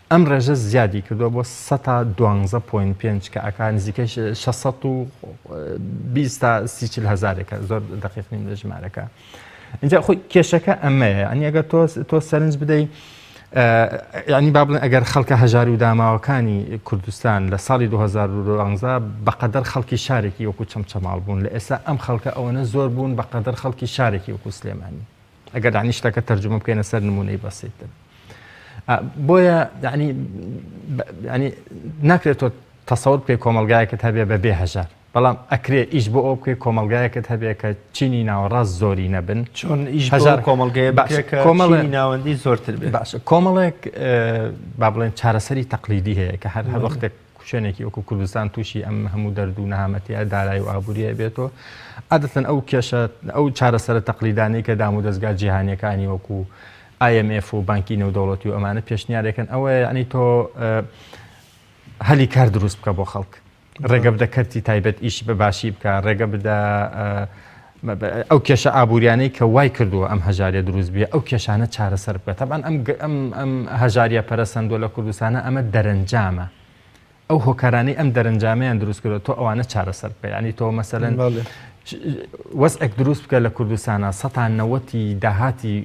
ئەم ڕێژە زیادی کردووە بۆ سە تا دوانزە پۆینت پێنج کە ئەکا نزیکەی شە شەش سەد و بیست تا سی چل هەزارێکە زۆر دەقیق نیم لە ژمارەکە اینجا خۆی کێشەکە ئەمەیە ئەنی ئەگەر تۆ تۆ سەرنج بدەیت ینی با بڵێن ئەگەر خەڵکە هەژار و داماوەکانی کوردستان لە ساڵی 2011 بەقەدەر خەڵکی شارێکی وەکو چەمچەماڵ بوون لە ئێستا ئەم خەڵکە ئەوەنە زۆر بوون بەقەدەر خەڵکی شارێکی وەکو سلێمانی ئەگەر دانی شتەکە تەرجمە بکەینە سەر نمونەی بەسیتر بۆیە دانی ینی ناکرێت تۆ تەسەور بکەی کۆمەلگایەکەت هەبێ بە بێ هەژار بەڵام ئەکرێ ئیش بۆ ئەو بکەی کۆمەلگایەکەت هەبێ کە چینی ناوەڕاست زۆری نەبن چۆن ئیش هەژار کۆمەلگای باشەکە کۆمەڵی ناوەندی زۆرتر بێ باشە کۆمەڵێک با بڵێن چارەسەری تەقلیدی هەیە کە هەر هەر وەختێک شوێنێکی وەکو کوردستان تووشی ئەم هەموو دەرد و نەهامەتیە دارای و ئابووریە بێت و عادەتەن ئەو کێشە ئەو چارەسەرە تەقلیدانەی کە دام و دەستگا جیهانیەکانی وەکو IMF و بانکی نێودەوڵەتی و ئەمانە پێشنیارەکەن ئەوە یعنی تۆ هەلی کار دروست بکە بۆ خەڵک ڕێگە بدە کەرتی تایبەت ئیش بە باشی بکە ڕێگە بدە ئەو کێشە ئابووریانەی کە وای کردووە ئەم هەژاریە دروست بێ ئەو کێشانە چارەسەر بکە تەبعەن ئەم ئەم هەژاریە پەرەسەندوە لە کوردستانە ئەمە دەرەنجامە ئەو هۆکارانەی ئەم دەرەنجامیان دروست کردو تۆ ئەوانە چارەسەر بکە ینی تۆ مەسەن وەسئەک دروست بکە لە کوردستانە سەتان نەوەتی داهاتی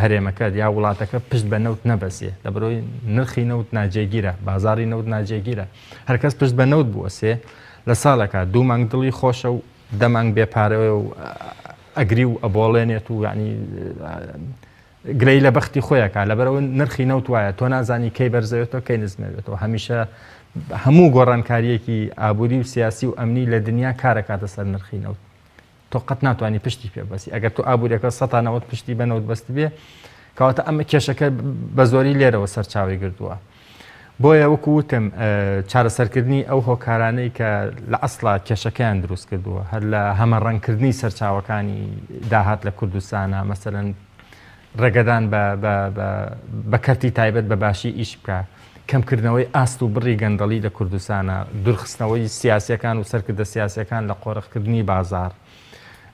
هەرێمەکە یا وڵاتەکە پشت بە نەوت نەبەسێ لە بەرۆی نرخی نەوت ناجێگیرە بازاری نەوت ناجێگیرە هەرکەس پشت بە نەوت بوەسێ لە ساڵەکە دوو مانگ دڵی خۆشە و دە مانگ بێ پارەیە و ئەگری و ئەبۆڵێنێت و یعنی گرەی لە بەختی خۆیەکە لەبەرەوە نرخی نەوت وایە تۆ نازانی کەی بەرزەوێتەوە کەی نزمەوێتەوە هەمیشە هەموو گۆڕانکاریەکی ئابووری و سیاسی و ئەمنی لە دنیا کارەکاتە سەر نرخی نەوت تۆ قەت ناتوانانی پشتی پێ بەسی ئەگەر تۆ ئابووریەکە سەتانەوەت پشتی بە نەوت بەست بێ کەواتە ئەمە کێشەکە بە زۆری لێرەوە سەرچاوی گردووە بۆیە وەکو وتم چارەسەرکردنی ئەو هۆکارانەی کە لە ئەسڵا کێشەکەیان دروست کردووە هەر لە هەمەڕەنگکردنی سەرچاوەکانی داهات لە کوردستانە مەسەرەن ڕێگەدان بە کەرتی تایبەت بە باشی ئیش بکە کەمکردنەوەی ئاست و بڕی گەندەڵی لە کوردستانە دورخستنەوەی سیاسەکان و سەرکردە سیاسەکان لە قۆرخکردنی بازار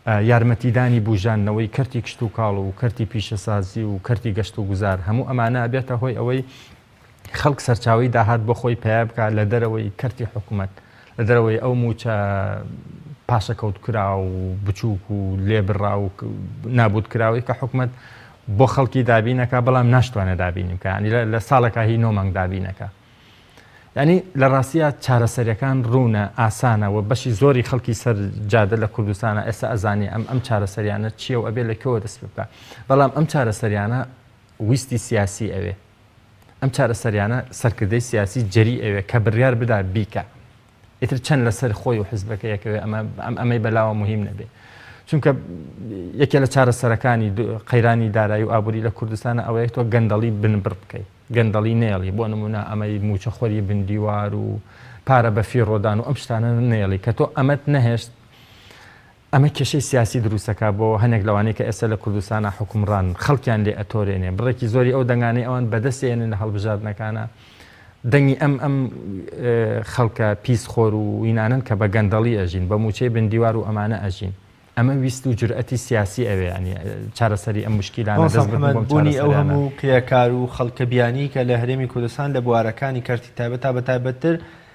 یارمەتیدانی بوژاندنەوەی کەرتی کشتوکاڵ و کەرتی پیشەسازی و کەرتی گەشت و گوزار هەموو ئەمانە ئەبێتە هۆی ئەوەی خەڵک سەرچاوی داهات بۆ خۆی پیا بکات لە دەرەوەی کەرتی حکوومەت لە دەرەوەی ئەو موچە پاشەکەوت کرا و بچووک و لێبڕا و نابوت کراوەی کە حکومت بۆ خەڵکی دابینەکە بەڵام ناشتوانە دابینی بکەنی لە ساڵەکە هی نۆمەنگ دابینەکە یانی لە ڕاستیا چارەسەریەکان ڕوونە ئاسانە و بەشی زۆری خەڵکی سەر جادە لە کوردستانە ئێستا ئەزانی ئەم ئەم چارەسەریانە چییە و ئەبێ لە کەوە دەست پێ بکە بەڵام ئەم چارەسەریانە ویستی سیاسی ئەوێ ئەم چارەسەریانە سەرکردەی سیاسی جەری ئەوێ کە بڕیار بدا بیکە ئیتر چەند لەسەر خۆی و حزبەکە یەکەوێ ئەمە ئەمەی بەلاوە مهم نەبێ چونکە یەکێ لە چارە سەرەکانی قەیرانی دارایی و ئابووری لە کوردستانە ئەوەیە تۆ گەندەڵی بنبڕ بکەیت گەندەڵی نێڵی بۆ نمونە ئەمەی موچەخۆری بندیوار و پارە بە فیڕۆدان و ئەم شتانە نێڵی کە تۆ ئەمەت نەهێشت ئەمە کێشەی سیاسی دروست دەکات بۆ هەنێک لەوانەی کە ئێستا لە کوردستانا حوکمڕانن، خەڵکیان لێ ئەتۆرێنێ، بڕێکی زۆری ئەو دەنگانەی ئەوان بەدەست ئێنن لە هەڵبژاردنەکانا دەنگی ئەم ئەم خەڵکە پیس خۆر و وینانەن کە بە گەندەڵی ئەژین، بە موچەی بن دیوار و ئەمانە ئەژین. ئەمە ویست و جورئەتی سیاسی ئەوێ یانی چارەسەری ئەم موشکیلانە دەست بکەن بۆ ئەم چارەسەریانە. مامۆستا محمد، بونی ئەو هەمو کرێکار و خەڵکە بیانیی کە لە هەرێمی کوردستان لە بوارەکانی کەرتی تایبەت تا بە تایبەتتر،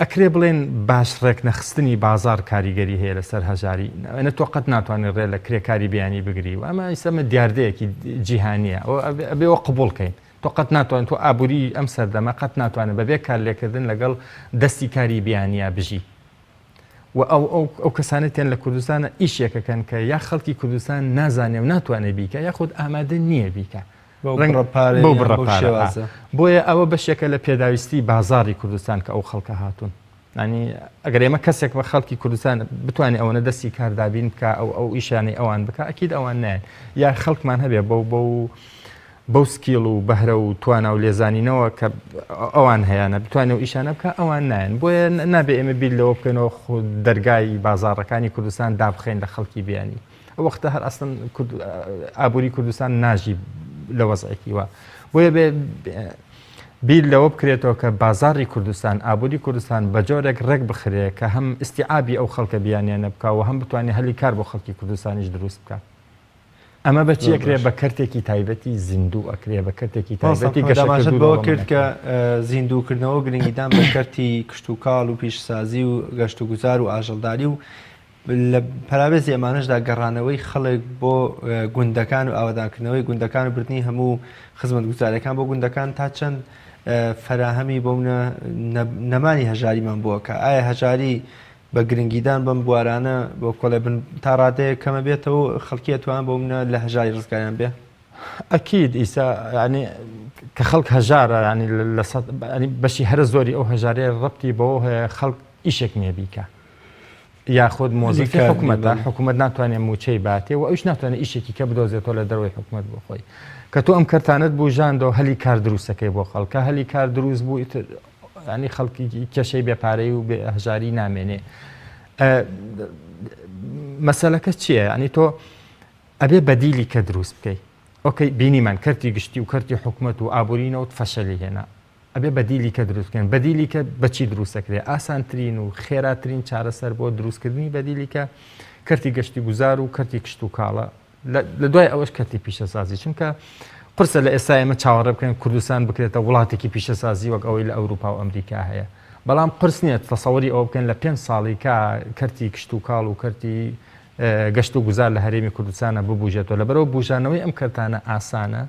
ئەکرێ بڵێن باج ڕێکنەخستنی بازار کاریگەری هەیە لەسەر هەژاری ئەە تۆ قەت ناتوانێت ڕێ لە کرێکاری بیانی بگری و ئەمە ئیسەمە دیاردەیەکی جیهانیە ئەبێەوە قوبولکەین تۆ قەت ناتوان تۆ ئابووری ئەم سەردەمە قەت ناتوانێت بەبێ کار لێکردن لەگەڵ دەستی کاری بیانە بژی و ئەو ئەو کەسانێتیان لە کوردستانە ئیشێکەکەن کە یا خەڵکی کوردستان نازانێ و ناتوانێت بیکە یاخود ئامادە نییە بیکە بەو بڕە پارە بۆیە ئەوە بەشێکە لە پێداویستی بازاری کوردستان کە ئەو خەڵکە هاتوون ینی ئەگەر ئێمە کەسێک بە خەڵکی کوردستان بتوانێت ئەوەنە دەستی کاردابین بکە ئەو ئەو ئیشانەی ئەوان بکە ئەکیید ئەوان نایەن یا خەڵکمان هەبێ بەو بەو بەو سکیڵ و بەهرە و توانا و لێزانینەوە کە ئەوان هەیەە بتوانێت و ئیشانە بکە ئەوان نایەن بۆیە نابێ ئێمە بیر لەوە بکەنەوە خود دەرگای بازارەکانی کوردستان دابخین لە خەڵکی بیانی ئەو وەختە هەر ئەسن ئابووری کوردستان ناژی لە وەزعێکی وە بۆیە بێ بیر لەوە بکرێتەوە کە بازاری کوردستان ئابووری کوردستان بە جۆرێک ڕێک بخرێ کە هەم ئیسیعابی ئەو خەڵکە بیانیانە بکەوە هەم بتوانێت هەلی کار بۆ خەڵکی کوردستانیش دروست بکە ئەمە بەچی ئەکرێ بە کەرتێکی تایبەتی زیندوو ئەکرێ بە کەرتێکی تایبەتی گەشەماشت بەوە کرد کە زیندووکردنەوە گرنگیدان بە کەرتی کشتتوکاڵ و پیشسازی و گەشت و گوزار و ئاژەڵداری و لە پەراوێزی ئەمانەشدا گەڕانەوەی خەڵک بۆ گوندەکان و ئاوەدانکردنەوەی گوندەکان و بردنی هەموو خزمەتگوزاریەکان بۆ گوندەکان تا چەند فەراهەمی بۆ منە نەمانی هەژاریمان بووە کە ئایا هەژاری بە گرنگیدان بەم بوارانە بۆ کۆڵێ بن تا ڕادەیە کەمە بێتەوە خەڵکیە توان بۆ منە لە هەژاری ڕزگاریان بێ ئەکیید ئیسا ینی کە خەڵک هەژارە ینی لە بەشی هەرە زۆری ئەو هەژارەیە ڕەتی بەەوە هەیە خەڵک ئیشێک نیە بیکە یاخود مۆزیفی حکوومەتە حکوومەت ناتوانێت موچەی باتێ و ئەوش ناتوانێت ئیشێکی کە بدۆزێتەوە لە دەروی حکوومەت بۆ خۆی کە تۆ ئەم کەرتانت بوو ژاندەوە هەلی کار دروستەکەی بۆ خەڵکە هەلی کار دروست بوو ینی خەڵکی کێشەی بێپارەی و هەژاری نامێنێ مەسلەکە چییە؟ ئەنی تۆ ئەبێ بەدیلی کە دروست بکەیت ئۆکەی بینیمان کەرتی گشتی و کەرتی حکوومەت و ئابوورینەوت فەشەلی هێنا ئەبێ بەدیلی کە دروست بکەن، بەدیلی کە بەچی دروست دەکرێت؟ ئاسانترین و خێراترین چارەسەر بۆ دروستکردنی بەدیلی کە کەرتی گەشتی گوزار و کەرتی کشت و کاڵە لە دوای ئەوەش کەرتی پیشەسازی چونکە قرسە لە ئێستا ئێمە چاوەڕێ بکەین کوردستان بکرێتە وڵاتێکی پیشەسازی وەک ئەوەی لە ئەوروپا و ئەمریکا هەیە بەڵام قرس نییە تەسەوەری ئەوە بکەن لە پێنج ساڵی کا کەرتی کشت و کاڵ و کەرتی گەشت و گوزار لە هەرێمی کوردستانە ببوژێتەوە لە بەرەوە بژانەوەی ئەم کەرتانە ئاسانە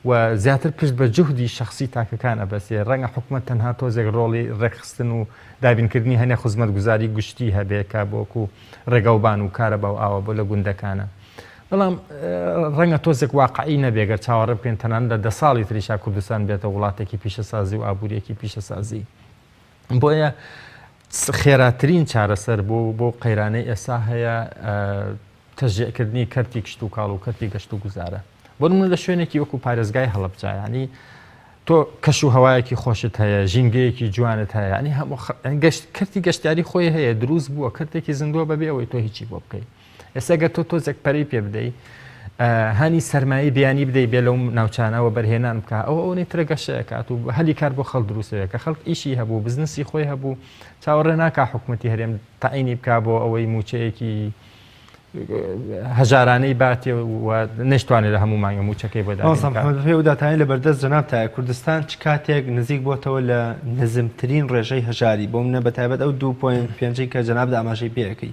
و زیاتر پشت بە جوهدی شەخسی تاکەکان ئەبەسێ، ڕەنگە حکومەت تەنها تۆزێک ڕۆڵی ڕێکخستن و دابینکردنی هەنێ خزمەتگوزاری گشتی هەبێ کە بۆکو ڕێگاوبان و کارەبا و ئاوا بۆ لە گوندەکانە. بەڵام ڕەنگە تۆزێک واقعی نەبێ گەر چاوەڕێ بکەین تەنانەت لە دە ساڵی تریشا کوردستان بێتە وڵاتێکی پیشەسازی و ئابووریەکی پیشەسازی. بۆیە خێراترین چارەسەر بۆ بۆ قەیرانەی ئێسا هەیە تەژێکردنی کەرتی کشت و کاڵ و کەرتی گەشت و گوزارە بۆ من لە شوێنێکی وەکو پارێزگای هەڵبجایانی تۆ کەش و هەوایەکی خۆشت هەیە ژینگەیەکی جوانت هەیە ینی هەموو گەشت کردی گەشتاری خۆی هەیە دروست بووە کردێکی زیندووە بەبێ ئەوەی تۆ هیچی بۆ بکەیت ئێستا گەر تۆ تۆزێک پەری پێ بدەی هانی سەرمایە بیانی بدەی بێ لەو ناوچانەوە بەرهێنان بکە ئەو ئەوەی ترە گەشەکات و هەلی کار بۆ خەڵ دروستەیە کە خەڵک ئیشی هەبوو بزنسی خۆی هەبوو چاوەڕێ ناکە حکوومەتتی هەرێم تاعینی بک بۆ ئەوەی موچەیەکی هەژارانەی باتێ و نشتوانێت لە هەموو مانگە موچەکەی بەداداتانی لە بەردەست جەناب تاە کوردستان چ کاتێک نزیک بۆتەوە لە نزمترین ڕێژەی هەژاری بۆ منە بە تایبەت ئەو 2.5 کە جەناب ئاماژەی پێەکەی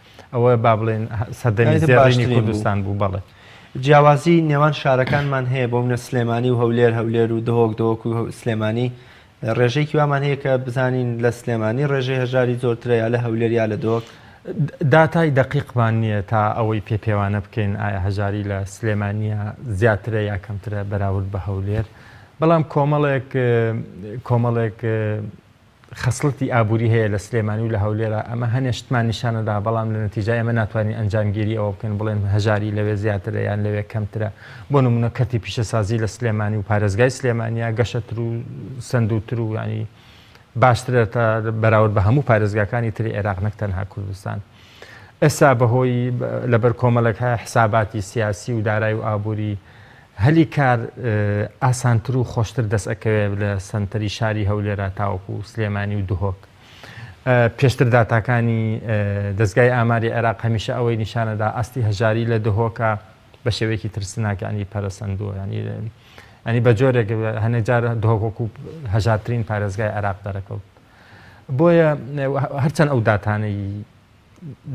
ئەوە با بڵێن سەردەمی زێڕینی کوردستان بوو بەڵێ. جیاوازی نێوان شارەکانمان هەیە بۆ منە سلێمانی و هەولێر هەولێر و دهۆک دۆک و سلێمانی ڕێژەیەکی وامان هەیە کە بزانین لە سلێمانی ڕێژەی هەژاری زۆرترە یا لە هەولێر یا لە دۆک داتای دەقیقمان نییە تا ئەوەی پێ پێوانە بکەین ئایا هەژاری لە سلێمانە زیاترە یا کەمترە بەراورد بە هەولێر بەڵام کۆمەڵێک کۆمەڵێک خەسڵەتی ئابووری هەیە لە سلێمانی و لە هەولێرا، ئەمە هەنێ شتمان نیشانەدا، بەڵام لە نەتیجا ئێمە ناتوانین ئەنجامگیری ئەوە بکەین بڵێن هەژاری لەوێ زیاترە یان لەوێ کەمترە، بۆ نموونە کەرتی پیشەسازی لە سلێمانی و پارێزگای سلێمانییە گەشەتر و سەندووتر و یانی باشترە تا بەراورد بە هەموو پارێزگاکانی تری عێراق نەک تەنها کوردستان. ئێستا بەهۆی لەبەر کۆمەڵێک حساباتی سیاسی و دارای و ئابووری هەلی کار ئاسانتر و خۆشتر دەست ئەکەوێت لە سەنتەری شاری هەولێرا تاوەکو سلێمانی و دهۆک. پێشتر داتاکانی دەزگای ئاماری عێراق هەمیشە ئەوەی نیشانەدا ئاستی هەژاری لە دهۆکە بە شێوەیەکی ترسناک یانی پەرەسەندووە یانی یانی بە جۆرێک هەنێک جار دهۆک وەکو هەژارترین پارێزگای عێراق دەرەکەوت. بۆیە هەرچەند ئەو داتانەی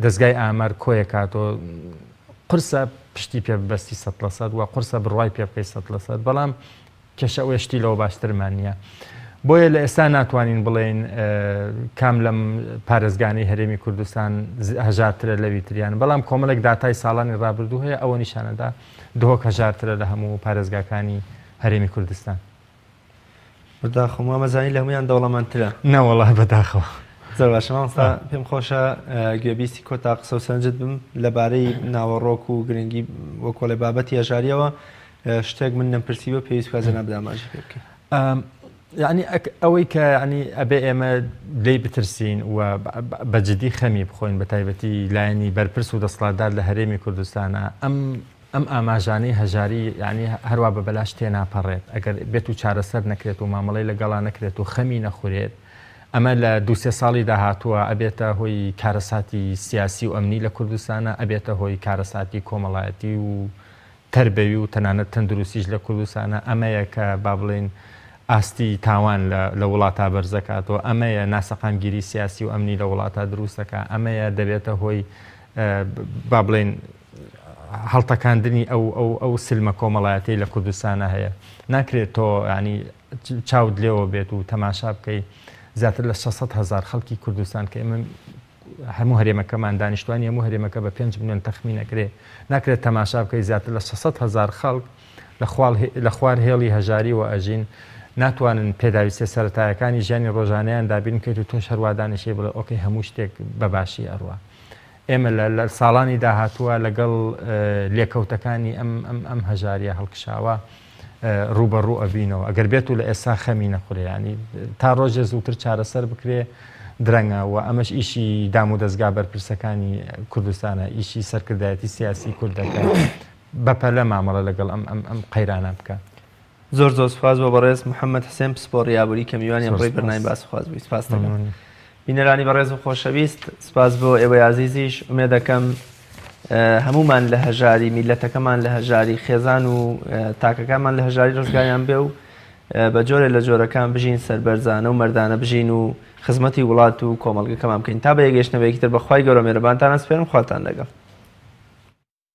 دەستگای ئامار کۆیەکاتۆ قرسە پشتی پێ بەستی سە لە سەد و قرسە بڕای پێ بکەی سە لە سەد بەڵام کێشە ئەوێ شتی لەوە باشترمان نییە. بۆیە لە ئێستا ناتوانین بڵێین کام لەم پارێزگانی هەرێمی کوردستان هەژارترە لەوی تریان بەڵام کۆمەڵێک داتای ساڵانی ڕابردوو هەیە ئەوە نیشانەدا دهۆک هەژارترە لە هەموو پارێزگاکانی هەرێمی کوردستان. بەداخەوە مامە زانی لە هەمویان دەوڵەمەندترە نەوەڵا بەداخەوە زۆر باشە مامۆستا پێم خۆشە گوێبیستی کۆتا قسە و سەنجت بم لەبارەی ناوەڕۆک و گرنگی وەکۆڵێ بابەتی هەژاریەوە شتێک من نەمپرسیوە پێویست کازەنا بداماژی پێ بکەین یعنی ئەوەی کە ینی ئەبێ ئێمە لی بترسین و بەجددی خەمی بخۆین بە تایبەتی لایەنی بەرپرس و دەسڵاتدار لە هەرێمی کوردستانە ئەم ئەم ئاماژانەی هەژاری یەعنی هەروا بە بەلاش تێناپەڕێت، ئەگەر بێت و چارەسەر نەکرێت و مامەڵەی لەگەڵا نەکرێت و خەمی نەخورێت، ئەمە لە دوو سێ ساڵی داهاتووە ئەبێتە هۆی کارەساتی سیاسی و ئەمنی لە کوردستانا، ئەبێتە هۆی کارەساتی کۆمەڵایەتی و تەربەوی و تەنانەت تەندروستیش لە کوردستانا، ئەمەیە کە با بڵێین ئاستی تاوان لە وڵاتا بەرزەکاتەوە، ئەمەیە ناسەقامگیری سیاسی و ئەمنی لە وڵاتا دروستەکا، ئەمەیە دەبێتە هۆی با بڵێین، هەڵتەکاندنی ئەو ئەو ئەو سلمە کۆمەڵایەتەی لە کوردستانە هەیە ناکرێت تۆ ینی چاوت لێوە بێت و تەماشا بکەی زیاتر لە 600 هزار خەڵکی کوردستان کە ئمە هەموو هەرێمەکەمان دانیشتوانی هەموو هەرێمەکە بە 5 میلیۆن تەخمینەکرێ ناکرێت تەماشا بکەی زیاتر لە 600 هزار خەڵک لە خوار هێڵی هەژاری و ئەژین ناتوانن پێداویستە سەتایەکانی ژیانی ڕۆژانیان دابین بکەیت و تۆش هەروادانیشەی بڵێ ئۆکەی هەموو شتێک بەباشی ئەڕوە ئێمە لە لە ساڵانی داهاتووە لەگەڵ لێکەوتەکانی ئەم ئەم ئەم هەژاریە هەڵکشاوە ڕووبەڕوو ئەڤینەوە ئەگەر بێت و لە ئێستا خەمی نەخورێ ینی تا ڕۆژێ زووتر چارەسەر بکرێ درەنگە و ئەمەش ئیشی دام و دەستگا بەرپرسەکانی کوردستانە ئیشی سەرکردایەتی سیاسی کوردەکە بەپەلە مامەڵە لەگەڵ ئەم ئەم ئەم قەیرانە بکە زۆر زۆر سپاس بۆ بەڕێز محەممەد حسێن پسپۆڕی ئابووری کە میوانی ئەمڕۆی بەرنامی باسخواز بووی سپاس دەکەم. بینەرانی بەڕێز و خۆشەویست سوپاس بۆ ئێوەی ئازیزیش ئومێدەکەم هەموومان لە هەژاری میلەتەکەمان لە هەژاری خێزان و تاکەکانمان لە هەژاری ڕزگاریان بێ و بە جۆرێ لە جۆرەکان بژین سەربەرزانە و مەردانە بژین و خزمەتی وڵات و کۆمەڵگەکەمان بکەین تا بە یەگەشتنەوەیەکی تر بەخوای گەورە مێرەبانتانە سپێرم خواتان لەگەڵ